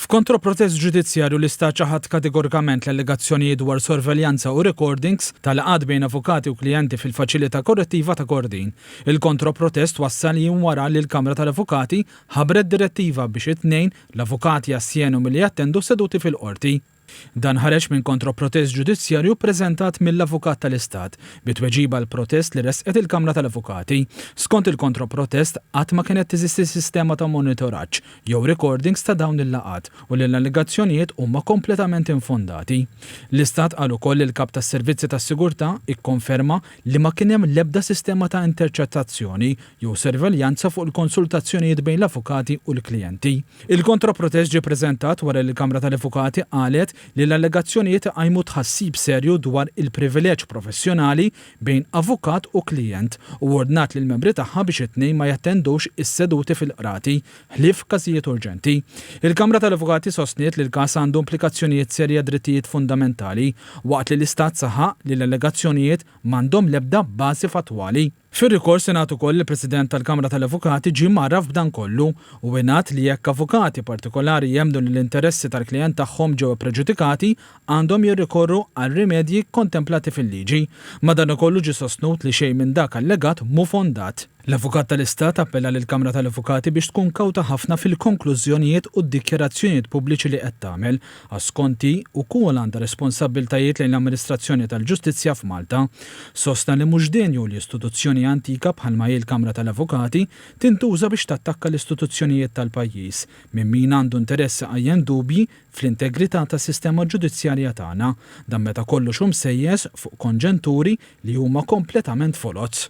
F'kontroprotest ġudizzjarju l-Istat ċaħad kategorikament l-allegazzjonijiet dwar sorveljanza u rekordings ta' laqgħat bejn avukati u klijenti fil-Faċilità Korrettiva ta' Kordin. Il-kontroprotest wassal jiem wara li l-Kamra tal-Avukati ħabbret direttiva biex it-tnejn l-avukati astjenu milli jattendu seduti fil-Qorti. Dan ħareġ minn kontroprotest ġudizzjarju ppreżentat mill-Avukat tal-Istat, bi tweġiba għal protest li ressqet il-Kamra tal-Avukati. Skont il-kontroprotest, qatt ma kienet teżisti sistema ta' monitoraġġ jew rekordings ta' dawn il-laqgħat u li l-allegazzjonijiet huma kompletament infondati. L-Istat qal ukoll li l-Kap tas-Servizzi tas-Sigurtà ikkonferma li ma kien hemm l-ebda sistema ta' interċettazzjoni jew sorveljanza fuq il-konsultazzjonijiet bejn l-avukati u l-klijenti. Il-kontra-protest ġie ppreżentat wara li l-Kamra tal-Avukati qalet li l-allegazzjonijiet iqajmu tħassib serju dwar il-privileġġ professjonali bejn avukat u klijent u ordnat lill-membri tagħha biex it-tnejn ma jattendux is-seduti fil-qrati ħlief f'każijiet urġenti. Il-Kamra tal-Avukati sostniet li l-każ għandu implikazzjonijiet serji għad-drittijiet fundamentali waqt li l-Istat saħaq li l-allegazzjonijiet m'għandhom l-ebda bażi fattwali. Fir-rikors ingħad ukoll li l-President tal-Kamra tal-Avukati ġie mgħarraf b'dan kollu u ingħad li jekk avukati partikolari jemmnu li l-interessi tal-klijent tagħhom ġew ippreġudikati, għandhom jirrikorru għal rimedji kontemplati fil-liġi. Madanakollu ġie sostnut li xejn minn dak allegat mhu fondat. L-Avukat tal-Istat appella lill-Kamra tal-Avukati biex tkun kawta ħafna fil-konklużjonijiet u d-dikjarazzjonijiet pubbliċi li qed tagħmel, Asconti wkoll għandha responsabbiltajiet lejn l-amministrazzjoni tal-ġustizzja f'Malta. Sostna li mhux denju li istituzzjoni antika bħalma hi l-Kamra tal-Avukati tintuża biex tattakka l-istituzzjonijiet tal-pajjiż minn min għandu interess iqajjem dubji fl-integrità tas-sistema ġudizzjarja tagħna, dan meta kollox hu msejjes fuq konġenturi li huma kompletament foloz.